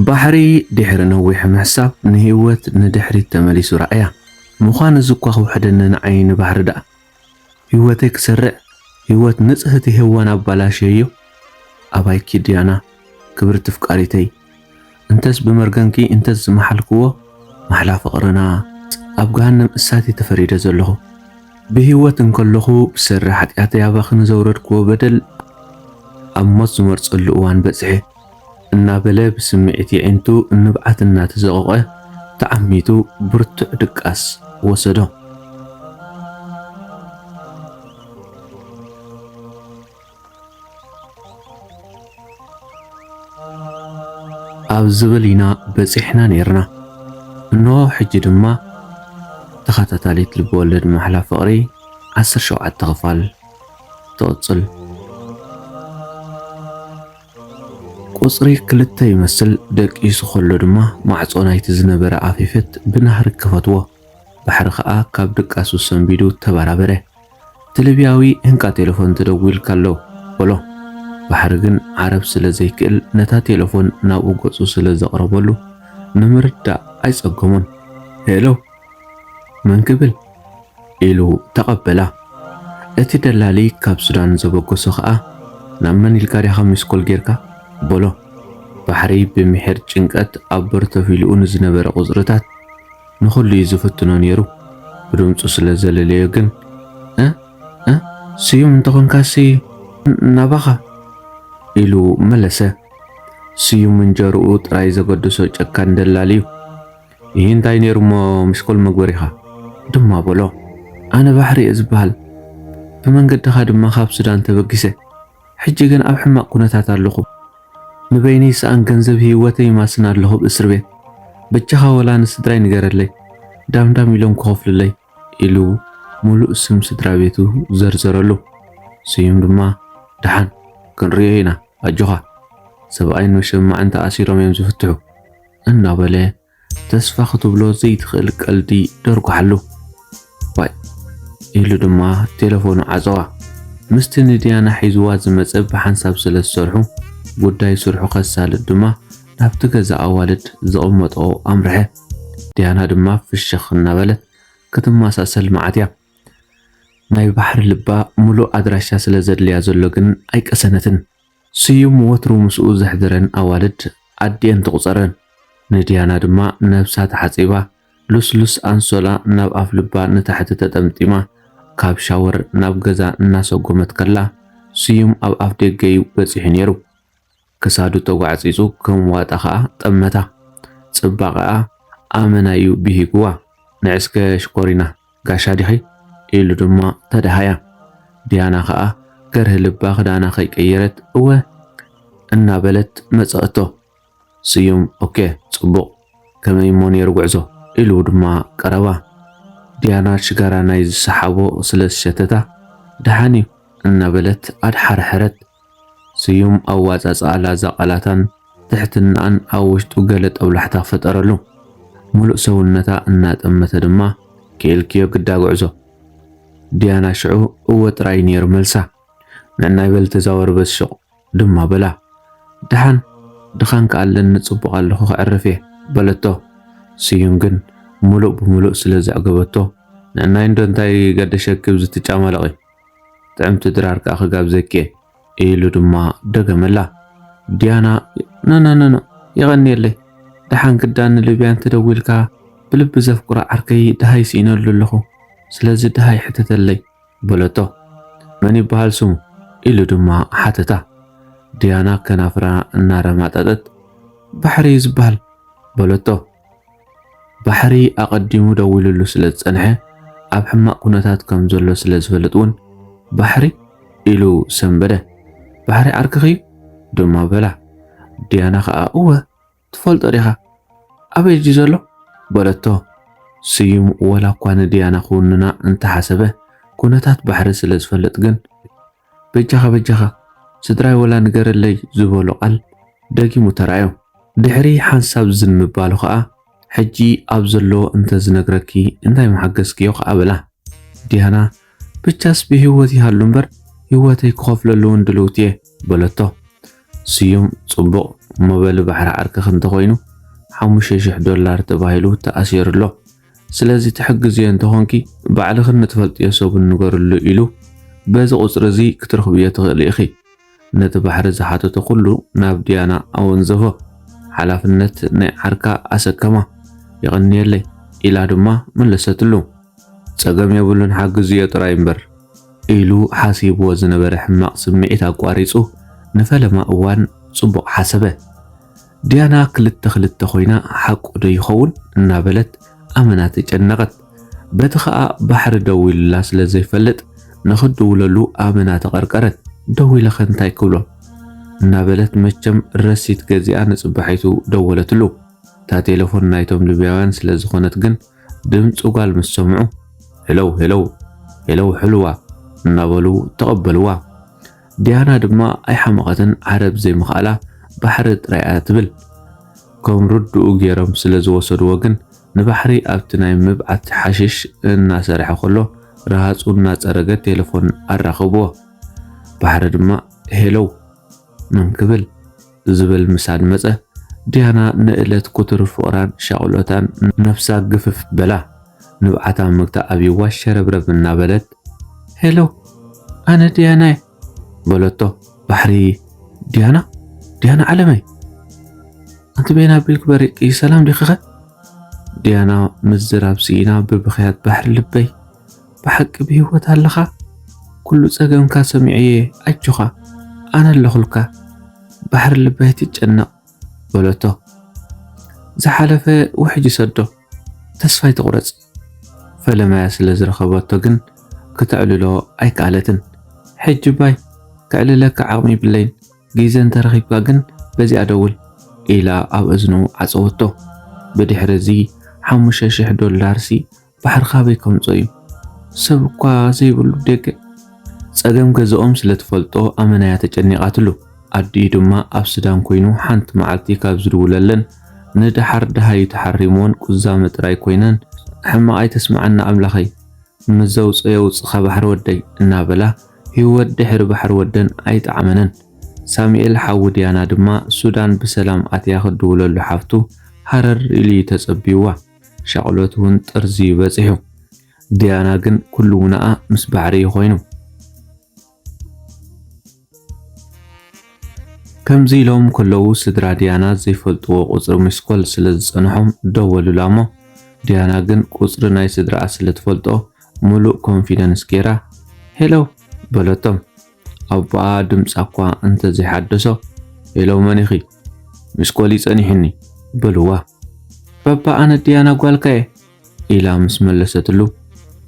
ባሕሪ ድሕሪ ነዊሕ ምሕሳብ ንህይወት ንድሕሪት ተመሊሱ ረኣያ። ምዃን እዚ እኳ ክውሕደኒ ንዓይ ንባሕሪ ደኣ ህይወተይ ክሰርዕ ህይወት ንጽህቲ ሄዋን ኣባላሽየዮ? ኣባይኪ ዲያና ክብርቲ ፍቃሪተይ እንተስ ብመርገምኪ እንተስ ዝመሓልክዎ ማሕላ ፍቅርና ኣብ ገሃነም እሳት እየ ተፈሪደ ዘለኹ። ብህይወት እንከለኹ ብሰሪ ሓጥያተይ ኣባኺ ንዘውረድክዎ በደል ኣብ ሞት ዝመርጸሉ እዋን በጺሐ። እናበለ ብስምዒት የዒንቱ ንብዓት እናተዘቖቐ ተዓሚቱ ብርቱዕ ድቃስ ወሰዶ። ኣብ ዝብል ኢና በጺሕና ነይርና። እንሆ ሕጂ ድማ ተኸታታሊት ልብወለድ ማሕላ ፍቕሪ 17 ክፋል ትቕጽል። ቁጽሪ ክልተ ይመስል ደቂሱ ከሎ ድማ ማዕጾ ናይቲ ዝነበረ ኣፌፈት ብናህሪ ከፈትዎ። ባሕሪ ከኣ ካብ ድቃሱ ሰንቢዱ ተበራበረ። እቲ ልብያዊ እንካ ቴለፎን ተደዊሉካ ኣሎ በሎ። ባሕሪ ግን ዓረብ ስለ ዘይክእል ነታ ቴለፎን ናብኡ ገጹ ስለ ዘቕረበሉ ንምርዳእ ኣይጸገሞን። ሄሎ! መን ክብል? ኢሉ ተቐበላ። እቲ ደላሊ ካብ ሱዳን ዘበገሶ ኸኣ ናብ መን ኢልካ ዲኻ ሚስኮል ጌርካ? በሎ። ባሕሪ ብምሒር ጭንቀት ኣብ በር ተፊሉኡ ንዝነበረ ቁጽርታት ንኹሉ እዩ ዝፍትኖ ነይሩ። ብድምጹ ስለ ዘለለዮ ግን እ እ ስዩም እንተኾንካሲ ናባኻ ኢሉ መለሰ። ስዩም እንጀርኡ ጥራይ ዘገደሶ ጨካን ደላሊ እዩ። እሂ እንታይ ነይሩ እሞ ምስ ኮል መግበሪኻ ድማ በሎ ኣነ ባሕሪ እየ ዝበሃል ብመንገድኻ ድማ ካብ ሱዳን ተበጊሰ ሕጂ ግን ኣብ ሕማቕ ኩነታት ኣለኹ ንበይነይ ሰኣን ገንዘብ ህይወተይ ይማስን ኣለኹ ብ እስርቤት በጃኻ ወላ ንስድራይ ንገረለይ ዳምዳም ኢሎም ክኸፍሉለይ ኢሉ ሙሉእ ስም ስድራቤቱ ዘርዘረሉ። ስዩም ድማ ደሓን ክንሪኦ ኢና ኣጆኻ ሰብኣይን መሸማዕን ተኣሲሮም እዮም ዝፍትሑ እናበለ ተስፋ ክትብሎ ዘይትኽእል ቀልዲ ደርጓሓሉ። ዋይ ኢሉ ድማ ቴለፎኑ ዓጸዋ። ምስቲ ንድያና ሒዝዋ ዝመጸ ብሓንሳብ ስለ ዝሰርሑ፣ ጉዳይ ስርሑ ከሳልጥ ድማ ናብቲ ገዛ ኣዋልድ ዝቕመጠኦ ኣምርሐ። ድያና ድማ ፍሽኽ እናበለት ክትመሳሰል መዓትያ። ናይ ባሕሪ ልባ ምሉእ ኣድራሻ ስለ ዘድልያ ዘሎ ግን ኣይቀሰነትን። ስዩም ወትሩ ምስኡ ዘሕድረን ኣዋልድ ኣዲኤን ትቑጸረን። ንድያና ድማ ነብሳ ተሓጺባ ሉስሉስ ኣንሶላ ናብ ኣፍልባ ንታሕቲ ተጠምጢማ ካብ ሻወር ናብ ገዛ እናሰጎመት ከላ ስዩም ኣብ ኣፍደገ'ዩ በጺሑ ኔሩ። ክሳዱ ተጓዕጺጹ ከም ዋጣ ከኣ ጠመታ። ጽባቐኣ ኣመና'ዩ ብሂጉዋ። ንዕስከ ሽኮሪና! ጋሻ ዲኺ? ኢሉ ድማ ተደሃያ። ዲያና ከኣ ገርሂ ልባ ክዳና ከይቀየረት እወ እናበለት መጸእቶ። ስዩም ኦኬ ጽቡቕ ከመይ እሞ ነይሩ ጉዕዞ? ኢሉ ድማ ቀረባ። ዲያና ሽጋራ ናይ ዝሰሓቦ ስለ ዝሸተታ ደሓን እዩ እናበለት ኣድሓርሐረት። ስዩም ኣወጻጽኣ ላዛ ቃላታን ትሕትናኣን ኣብ ውሽጡ ገለ ጦብላሕታ ፈጠረሉ። ምሉእ ሰውነታ እናጠመተ ድማ ክኢልክዮ ግዳ ጉዕዞ። ዲያና ሽዑ እወ ጥራይ ነይሩ መልሳ። ንዕናይ በል ተዛወሪ በዚ ሹቕ ድማ በላ። ደሓን ድኻን ከኣ ኣለኒ ጽቡቕ ኣለኹ ከዕርፍ እየ በለቶ። ስዩም ግን ምሉእ ብምሉእ ስለ ዘዕገበቶ ንዕናይ እንዶ እንታይ ገደሸኪ ብዚ ትጫማለቒ ጥዕምቲ ድራር ከኣ ክጋብዘኪ ኢሉ ድማ ደገመላ። ዲያና ኖኖኖኖ የቐንየለይ ደሓን ክዳን ንልብያ እንተደዊልካ ብልቢ ዘፍቅሮ ዓርከይ ደሃይ ስኢነሉ ኣለኹ ስለዚ ደሃይ ሕተተለይ በለቶ። መን ይበሃል ስሙ ኢሉ ድማ ሓተታ። ዲያና ከናፍራ እናረማጠጠት ባሕሪ እዩ ዝበሃል በለቶ። ባሕሪ ኣቐዲሙ ደዊሉሉ ስለ ዝጸንሐ ኣብ ሕማቕ ኩነታት ከም ዘሎ ስለ ዝፈልጥ እውን ባሕሪ ኢሉ ሰንበደ። ባሕሪ ዓርክኺ ድማ በላ። ዲያና ከኣ እወ ትፈልጦ ዲኻ ኣበይ እዩ ዘሎ በለቶ። ስዩም ወላ እኳ ንዲያና ክውንና እንተሓሰበ ኩነታት ባሕሪ ስለ ዝፈልጥ ግን በጃኻ በጃኻ ስድራይ ወላ ንገረለይ ዝበሎ ቃል ደጊሙ ተራእዮ። ድሕሪ ሓንሳብ ዝም ምባሉ ከኣ ሕጂ ኣብ ዘሎ እንተ ዝነግረኪ እንታይ ምሓገዝክዮ ከኣ በላ። ዲያና ብቻስ ብህይወት ይሃሉ እምበር ህይወተይ ክኸፍለሉውን ድልውቲ እየ በለቶ። ስዩም ጽቡቕ እሞ በሊ ባሕሪ ዓርክኽ እንተኾይኑ ሓሙሽተ ሽሕ ዶላር ተባሂሉ ተኣሲሩ ኣሎ። ስለዚ ትሕግዝዮ እንተኾንኪ ባዕልኽን ንትፈልጥዮ ሰብን ንገርሉ ኢሉ በዚ ቁጽሪ እዚ ክትረኽብዮ ትኽእሊ ኢኺ። ነቲ ባሕሪ ዝሓተቶ ኩሉ ናብ ድያና ኣወንዘፎ። ሓላፍነት ናይ ዓርካ ኣሰከማ። የቐንየለይ ኢላ ድማ መለሰትሉ። ጸገም የብሉን ሓግዝዮ ጥራይ እምበር። ኢሉ ሓሲብዎ ዝነበረ ሕማቕ ስምዒት ኣቋሪጹ ንፈለማ እዋን ጽቡቕ ሓሰበ። ዲያና ክልተ ክልተ ኮይና ሓቁ ዶ ይኸውን እናበለት ኣመና ተጨነቐት። በቲ ኸኣ ባሕሪ ደዊሉላ ስለ ዘይፈልጥ ንኽትድውለሉ ኣመና ተቐርቀረት። ደዊለኸ እንታይ ክብሎ? እናበለት መቸም ረሲት ገዚኣ ንጽባሒቱ ደወለትሉ። እታ ቴለፎን ናይቶም ልብያውያን ስለ ዝኾነት ግን ድምጺ ጓል ምስ ሰምዑ ሄሎው ሄሎው ሄሎው ሕልዋ እናበሉ ተቐበልዋ። ዲያና ድማ ኣይሓመቐትን ዓረብ ዘይምኽኣላ ባሕሪ ጥራይ እያ ትብል። ከም ርድኡ ጌሮም ስለ ዝወሰድዎ ግን ንባሕሪ ኣብቲ ናይ ምብዓት ሓሽሽ እናሰርሐ ከሎ ረሃጹ እናጸረገ ቴለፎን ኣራኸብዎ። ባሕሪ ድማ ሄሎው መን ክብል? ዝብል ምሳድ መጸ፣ ዲያና ንእለት ኩቱር ፍቕራን ሻቕሎታን ነፍሳ ግፍፍ በላ። ንብዓታ ምግታ ኣብዩዋ ሸረብረብ እናበለት። ሄሎ! ኣነ ዲያና'የ! በለቶ። ባሕሪ! ዲያና! ዲያና ዓለመይ! ኣንቲ በየን ኣቢልኪ በሪቕኪ? ሰላም ዲኺኸ? ዲያና ምዝራብ ስኢና ብብኽያት ባሕሪ ልበይ! ብሓቂ ብሂወት ኣለኻ ኩሉ ጸገምካ ሰሚዐዮ ኣጆኻ ኣነ ኣለኹልካ ባሕሪ ልቢ ኣይትጨነቕ በለቶ ዝሓለፈ ውሕጅ ሰዶ ተስፋ ኣይትቑረጽ ፈለማያ ስለ ዝረኸበቶ ግን ክተዕልሎ ኣይከኣለትን ሕጂ ባይ ከዕልለካ ዓቕሚ ይብለይን ግዜ እንተረኺብካ ግን በዚኣ ደውል ኢላ ኣብ እዝኑ ዓጸወቶ ብድሕሪ እዚ ሓሙሽተ ሽሕ ዶላርሲ ባሕሪ ካበይ ከምጾ እዩ ሰብ እኳ ዘይብሉ ደገ ጸገም ገዛኦም ስለ ትፈልጦ ኣመናያ ተጨኒቓትሉ ኣዲኡ ድማ ኣብ ስዳን ኮይኑ ሓንቲ መዓልቲ ካብ ዝድውለለን ንደሓር ደሃዩ ተሓሪምወን ቁዛመ ጥራይ ኮይነን ሕማቕ ኣይተስምዓና ኣምላኸይ ምዘውጾ የውጽኻ ባሕሪ ወደይ እናበላ ህይወት ድሕሪ ባሕሪ ወደን ኣይጠዓመነን ሳሙኤል ሓዊ ዲያና ድማ ሱዳን ብሰላም ኣትያ ክድውለሉ ሓፍቱ ሃረር ኢሉ እዩ ተጸብዩዋ። ሻቕሎት እውን ጠርዚዩ በጺሑ። ዲያና ግን ኩሉ ውነኣ ምስ ባሕሪ እዩ ኮይኑ። ከምዚ ኢሎም ከለዉ ስድራ ዲያና ዘይፈልጥዎ ቁጽሪ ሚስኮል ስለ ዝጸንሖም ደወሉላ እሞ ዲያና ግን ቁጽሪ ናይ ስድራኣ ስለ ትፈልጦ ምሉእ ኮንፊደንስ ጌራ ሄሎ በለቶም። ኣባኣ ድምጻ እኳ እንተ ዘይሓደሶ፣ ሄሎ መን ኢኺ? ሚስኮል'ዩ ጸኒሑኒ በልዋ። ባባ ኣነ ድያና ጓልካ'የ ኢላ ምስ መለሰትሉ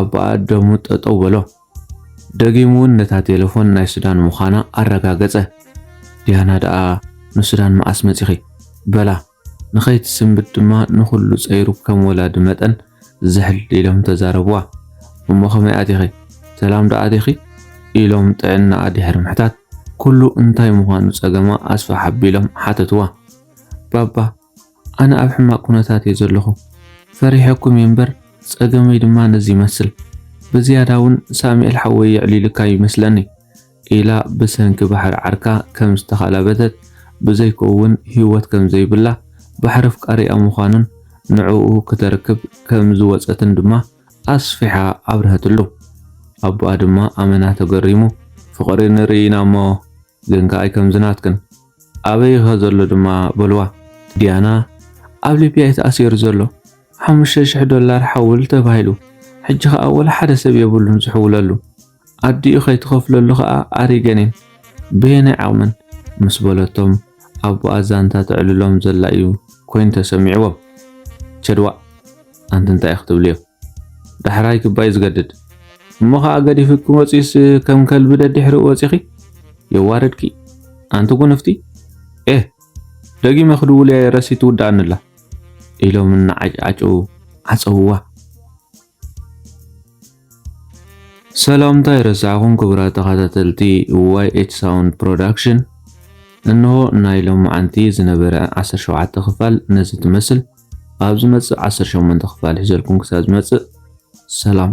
ኣባኣ ደሙ ጠጠው በሎ። ደጊሙ እውን ነታ ቴለፎን ናይ ሱዳን ምዃና ኣረጋገጸ። ድያና ደኣ ንሱዳን መኣስ መጺኺ? በላ። ንኸይትስንብድ ድማ ንኹሉ ጸይሩ ከም ወላዲ መጠን ዝሕል ኢሎም ተዛረብዋ። እሞ ከመይ ኣቲኺ? ሰላም ዶ ኣቲኺ? ኢሎም ጥዕናኣ ድሕሪ ምሕታት ኩሉ እንታይ ምዃኑ ጸገማ ኣስፍሕ ኣቢሎም ሓተትዋ። ባባ ኣነ ኣብ ሕማቕ ኩነታት እየ ዘለኹ። ፈሪሐኩም እየ እምበር ጸገመይ ድማ ነዚ ይመስል። ብዝያዳውን ሳሚኤል ሓወይ የዕሊሉካ እዩ ይመስለኒ። ኢላ ብሰንኪ ባሕሪ ዓርካ ከም ዝተኻላበተት ብዘይኮውን ህይወት ከም ዘይብላ ባሕሪ ኣፍቃሪኣ ምዃኑን ንዕኡ ክተርክብ ከም ዝወጸትን ድማ ኣስፊሓ ኣብርሀትሉ። ኣቦኣ ድማ ኣመና ተገሪሙ ፍቕሪ ንርኢ ኢና እሞ ግን ከኣይ ከምዚ ናትክን ኣበይኸ ዘሎ ድማ በልዋ። ዲያና ኣብ ሊብያ እዩ ተኣሲሩ ዘሎ ሓሙሽተ ሽሕ ዶላር ሓውል ተባሂሉ ሕጂ ከኣ ወላ ሓደ ሰብ የብሉን ዝሕውለሉ። ኣዲኡ ከይትኸፍለሉ ከኣ ኣሪገኔን በየናይ ዓቕመን ምስ በለቶም ኣቦኣ ዛንታ ተዕልሎም ዘላ እዩ ኮይኑ ተሰሚዕዎም። ቸድ ዋእ ኣንቲ እንታይ እዩ ክትብልዮ ዳሕራይ ክባዩ ዝገድድ እሞ ከኣ ገዲፍኪ ክወጽዩስ ከም ከልቢ ደድሕሪኡ ወጺኺ የዋርድኪ ኣንቲ ጉንፍቲ ኤህ ደጊመ ክድውልያ ረሲት ትውድኣኒ ኣላ ኢሎም እናዓጭዓጨዉ ዓጸውዋ። ሰላምታ ይረሳዕኹም ክቡራት ተኸታተልቲ ዋይ ኤች ሳውንድ ፕሮዳክሽን እንሆ ናይ ሎማዓንቲ ዝነበረ 17 ክፋል ነዚ ትመስል ኣብ ዝመጽእ 18 ክፋል ሒዘልኩም ክሳብ ዝመጽእ ሰላም